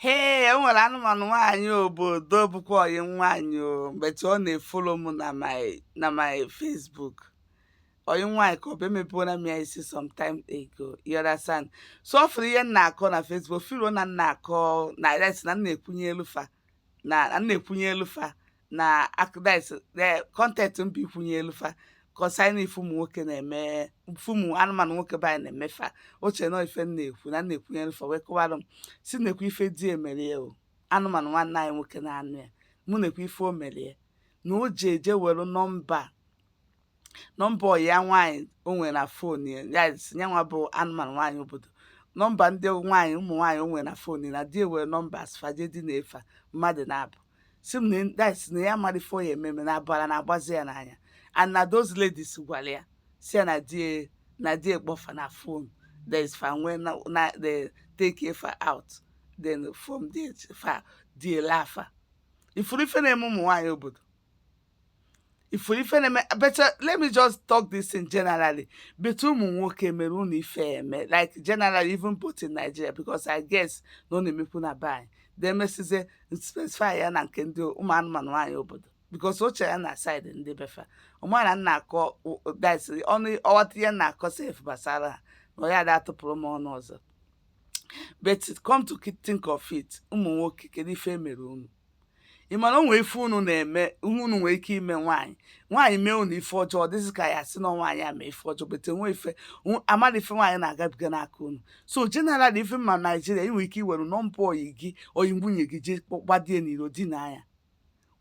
hee e nwere anụmanụ nwaanyị obodo bụkwa ọyị nwaanyị o but ọ na-efolo m na my Facebook ọyị nwaanyị ka ọ bụ emebuona m ya isi sometime ago you understand so ọ fụrụ ihe m na-akọ na Facebook filo na m na-akọ na res na m na-ekwunyelu fa na m na-ekwunyelu fa na akọ that's content m bụ ikwunyelu fa kọsaina ife ụmụ nwoke na-eme ife ụmụ anụmanụ nwoke be anyị na-eme fa o che na ọ ife m na-ekwu na m na-ekwunyelu fa wee kọwara m si na-ekwu ife di e mere ya o anụmanụ nwanne anyị nwoke na-anụ ya mụ na-ekwu ife o mere ya na o ji eje were nọmba nọmba ọyị ya nwaanyị o nwere na fon ya ya si ya nwa bụ anụmanụ nwaanyị obodo nọmba ndị nwaanyị ụmụ nwaanyị o nwere na fon ya na di e were nọmba asfaje di na efa mmadụ naabọ si m na that is na ya amarọ ife ọ ya-eme eme na ọbara na-agbazi ya n'anya and na those ladies gwara ya si ya na di na di e kpọọ fa na fon there is fa nwee na na di e take fa out then from there fa di e laa fa ị fụrụ ife na-eme ụmụ nwaanyị obodo ị fụrụ ife na-eme but uh, let me just talk this thing generally but ụmụ nwoke mere unu ife eme like generally even both in Nigeria because I guess na ọ na-emekwu na be anyị demesizie specify ya na nke ndị ụmụ anụmanụ nwaanyị obodo because o che a na-side ndị be fa ọ marọ na m na-akọ that's ọ narọ aghọta ihe m na-akọ sef gbasara ha na onye ada atụpụrụ m ọnụ ọzọ but come to think of it ụmụ nwoke kedu ife mere unu ị ma na o nwe ife unu na-eme ihe unu nwere ike ime nwaanyị nwaanyị mee unu ife ọjọọ ọ dịzị ka a ya-asị na nwaanyị a mee ife ọjọọ but nwe ife amara ife nwaanyị na-agabiga n'aka unu so general even ma Nigeria ị nwere ike iwere nọmba ọyị gị ọyị nwunye gị je gbadie n'iro dina ya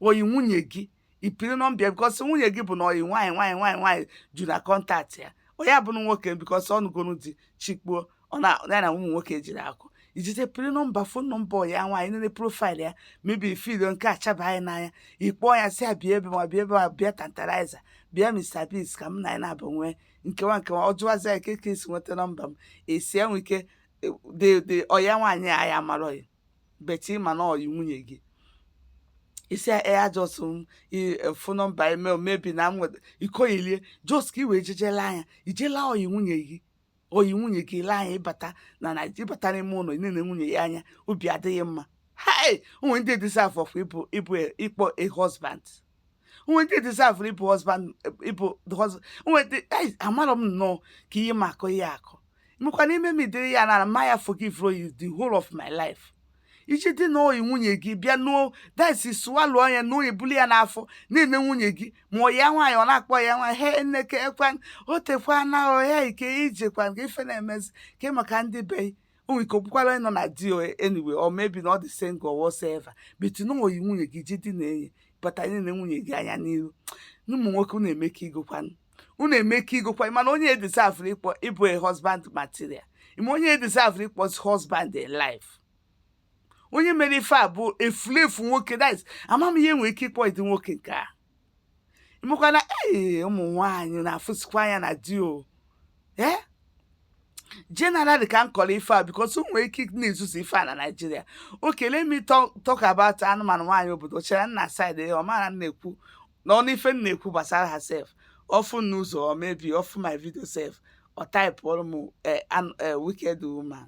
ọyị nwunye gị ị pịrị nọmba ya because nwunye gị bụ na ọyị nwaanyị ju na contact ya onye abụrụ nwoke because ọnụgonu di chikpuo ọ na ya na ụmụ nwoke jiri akọ ijite pịrị nọmba fon nọmba ọyị ya nwaanyị nene profile ya maybe filo nke a chaba gị n'anya ị kpọọ ya sị a bịa ebe ma bịa ebe ma bịa Tantalizer bịa Mr Biggs ka m na anyị naabọ nwee nkewa nkewa ọ jụwazi ya kee ka i si nweta nọmba m esi enwe ike de de ọya nwaanyị a ya amarọghị but ị ma na ọyị nwunye gị ị sị ya just fon nọmba eme maybe na nweta ị kọyie lie just ka i wee jee je laa ya i je laa ọyị nwunye gị ọyị nwunye gị laa ya ị bata na Nigeria ị bata n'ime ụlọ ị nene nwunye gị anya obi adịghị mma hai o nwe ndị deserverọ ịbụ ịkpọ a husband o nwe ndị deserverọ ịbụ husband ịbụ o nwe ndị amarọ m nnọọ ka ihe m na-akọ ihe a akọ mekwa n'ime m ụdịrị ya na m ma ya forgive you the whole of my life i je dina ọyị nwunye gị bịa n'ụnọ that's swallow ya na-ebulu ya n'afọ na-ene nwunye gị ma ọyị ya nwaanyị ọ na-akpọ ya nwa he nne kekwanụ o tekwana o kee ka i jekwanụ kee ife na-emezi kee maka ndị be o nwere ike okwukwara ịnọ na di anyway or maybe na ọ dị single whatsoever but na ọyị nwunye gị ji dina enyi bata na-ele nwunye gị anya n'iru na ụmụ nwoke unu eme ka igokwanụ unu eme ka igokwanụ mana onye deserve-ụrụ ịkpọ ịbụ a husband material ma onye deserve-ụrụ ịkpọzi husband in life onye mere ife a bụ efulefu nwoke that is ama m ihe nwere ike ịkpọ ụdị nwoke nke a ị makwa na ee ụmụ nwaanyị na-afụsikwa anya na di o ee eh? generally ka m kọrọ ife a because nwere ike na-ezuzu ife a na Nigeria okay let me talk about anụmanụ nwaanyị obodo chere nna side ya ọ mara na-ekwu na ọ nụ ife m na-ekwu gbasara ha sef ọ fụ m n'ụzọ or maybe ọ fụ my video sef ọ type-ụrụ m eh, eh, wicked woman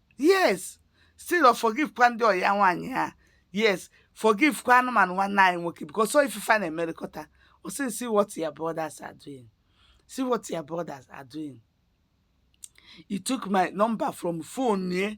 yes still ọ forgive kwa ndị ọyị ya nwaanyị a yes forgive kwa anụmanụ nwanne anyị nwoke because so ife fa na-emerịkọta ọ sị see what your brothers are doing see what your brothers are doing he took my number from phone ye